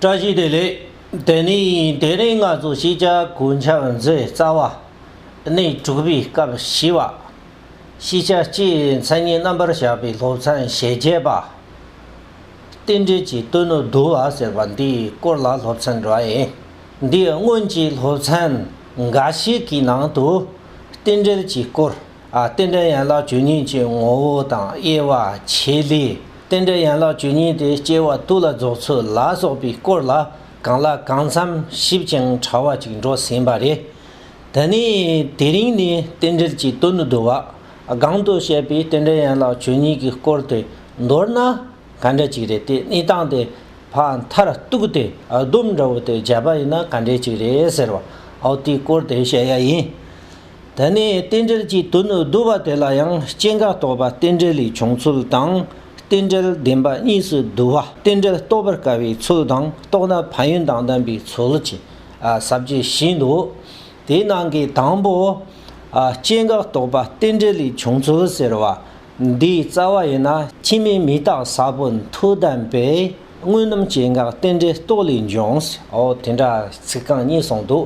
བཀྲ་ཤིས་བདེ་ལེགས། དེ་ནས་དེ་རིང་ང་ཚོ་ཤེས་བྱ་གོ་འཆམ་མཛད་རྩ་བ། གནས་དྲུག་པའི་སྐབས་བཞི་བ། ཤེས་བྱ་སྤྱིའི་མཚན་ཉིད་རྣམ་པར་བཞག་པའི་སློབ་ཚན་ཞེ་བརྒྱད་པ། རྟེན་འབྲེལ་གྱི་གཏོལ་ནོར་བསྡུ་བ་ཟེར་བ་འདིའི་སྐོར་ལ་སློབ་ཚན་འགྲོ་ཡིན། འདིའི་སྔོན་གྱི་སློབ་ཚན་འགའ་ཞིག་གི་ནང་དུ་རྟེན་འབྲེལ་གྱི་སྐོར། རྟེན་འབྲེལ་ཡན་ལག་བཅུ་གཉིས་ཀྱི་ངོ་བོ་དང་དབྱེ་བ་ཕྱེ་ལས། རྟེན་འབྲེལ་ཡན་ལག་བཅུ་གཉིས་དེ་སྐྱེ་བ་དུས་ལ་རྫོགས་ཚུལ་ལ་སོགས་པའི་སྐོར་ལ་གང་ལ་གང་འཚམ་ཞིབ་ཅིང་ཕྲ་བ་ཅིག་འགྲོ་ཟིན་པ་རེད། ད་ནི་དེ་རིང་ནས་རྟེན་འབྲེལ་གྱི་དོན་དུ་བསྡུ་བ་སྒང་དུ་བཤད་པའི་རྟེན་འབྲེལ་ཡན་ལག་བཅུ་གཉིས་ཀྱི་སྐོར་དེ་མདོར་ན་ག་འདྲ་ཅིག་རེད་དེ་གནས་སྟངས་དེ་ཕག་མཐར་གཏུགས་ཏེ་ལྡུམ་འདྲ་བོ་དེ་བརྒྱབ་པ་ཡིན་ན་ག་འདྲ་ཅིག་རེད་ཟེར་བ་འོ་དེའི་སྐོར་དེ་བཤད་ཡ་ཡིན། དེ་ནས་རྟེན་འབྲེལ་གྱི་དོན་དུ་བསྡུ་བ་དེ་ལ་ཡང་སྐྱེ་འགག་རྟོག་པ་རྟེན་འབྲེལ་ལས་བྱུང་ཚུལ་དང། རྟེན་འབྲེལ་བདེན་པ་གཉིས་སུ་བསྡུ་བ་རྟེན་འབྲེལ་རྟོགས་པར་དཀའ་བའི་ཚུལ་དང་རྟོགས་ན་ཕན་ཡོན་དང་ལྡན་པའི་ཚུལ་གྱི་ཟབ་རྒྱས་བཞིན་དུ། དེའི་ནང་གི་དང་པོ། སྐྱེ་འགག་རྟོག་པ་རྟེན་འབྲེལ་ལས་བྱུང་ཚུལ་ཟེར་བ་འདིའི་རྩ་བ་ཡིན་ན་ཕྱི་མའི་མི་རྟག་ཟབ་པོ་མཐུ་ལྡན་པས་དངོས་རྣམ་སྐྱེ་འགག་རྟེན་འབྲེལ་རྟོག་ལས་འབྱུང། དེ་འདྲ་ཚིག་རྐང་གཉིས་གསུངས་འདུག།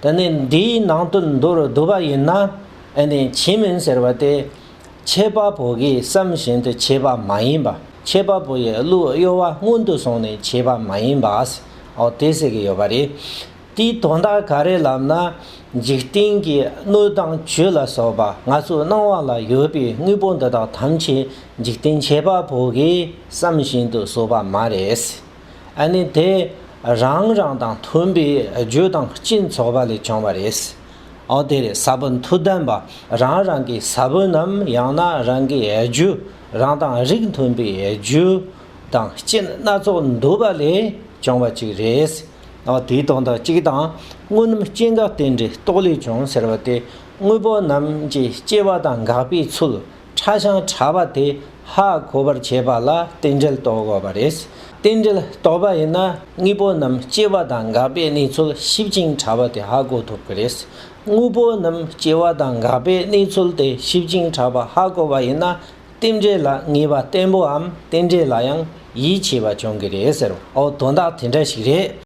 དེ་ནི་འདིའི་ནང་དུ་འདུ་རུ་བསྡུ་བ་ཡིན་ན་ཨེ་ནི་བྱིན་མིན་ཟེར་བ་དེ། ཁྱད་པར་བུ་གའི་བསམ་བཞིན་དུ་བྱས་པ་མ་ཡིན་པ་ཁྱད་པར་བུ་ཡི་གླུའི་གཡོ་བ་སྔོན་དུ་སོང་ནས་བྱས་པ་མ་ཡིན་པའོ་དེ་ཟེར་གྱི་ཡོད་པ་རེད། དེའི་དོན་དག་ག་རེ་ལབ་ན། འཇིག་རྟེན་གྱི་སྣོད་དང་བཅུད་ལ་སོགས་པ་ང་ཚོའི་སྣང་བ་ལ་ཡོད་པའི་དངོས་པོ་འདི་དག་ཐམས་ཅད་འཇིག་རྟེན་ཁྱད་པར་བུ་གའི་བསམ་བཞིན་དུ་བཟོས་པ་མ་རེད། ཨ་ནི་དེ་རང་རང་དང་མཐུན་པའི་རྒྱུ་དང་སྤྱིན་ཚོགས་པ་ལས་བྱུང་བ་རེད། འོ་དེ་རེད་ས་བོན་མཐུ་ལྡན་པ་རང་རང་གི་ས་བོན་ནམ་ཡང་ན་རང་གི་རྒྱུ་རང་དང་རིགས་མཐུན་པའི་རྒྱུ་དང་སྤྱིན་སྣ་ཚོགས་འདུ་བ་ལས་བྱུང་བ་ཅིག་རེད། འོ་དེའི་དོན་དག་གཅིག་དང་དངོས་རྣམ་སྐྱེ་འགག་རྟེན་འབྲེལ་རྟོག་ལས་བྱུང་ཟེར་བ་དེ་དངོས་པོ་རྣམས་ཀྱི་སྐྱེ་བ་དང་འགག་པའི་ཚུལ་ཕྲ་ཞིང་ཕྲ་བ་དེ་ཧ་གོ་བར་བྱེད་པ་ལ་རྟེན་འབྲེལ་རྟོགས་དགོས་པ་རེད། རྟེན་འབྲེལ་རྟོགས་པ་ཡིན་ན་དངོས་པོ་རྣམས་སྐྱེ་བ་དང་འགག་པའི་གནས་ཚུལ་ཞིབ་ཅིང་ཕྲ་བ་དེ་ཧ་གོ་ཐུབ་ཀྱི་རེད། དངོས་པོ་རྣམས་སྐྱེ་བ་དང་འགག་པའི་གནས་ཚུལ་དེ་ཞིབ་ཅིང་ཕྲ་བ་ཧ་གོ་བ་ཡིན་ན་རྟེན་འབྲེལ་ལ་ངེས་པ་བརྟན་པོའམ་རྟེན་འབྲེལ་ལ་ཡང་ཡིད་ཆེས་པ་བྱུང་གི་རེད་ཟེར་བ་དོན་དག་དེ་འདྲ་ཞིག་རེད།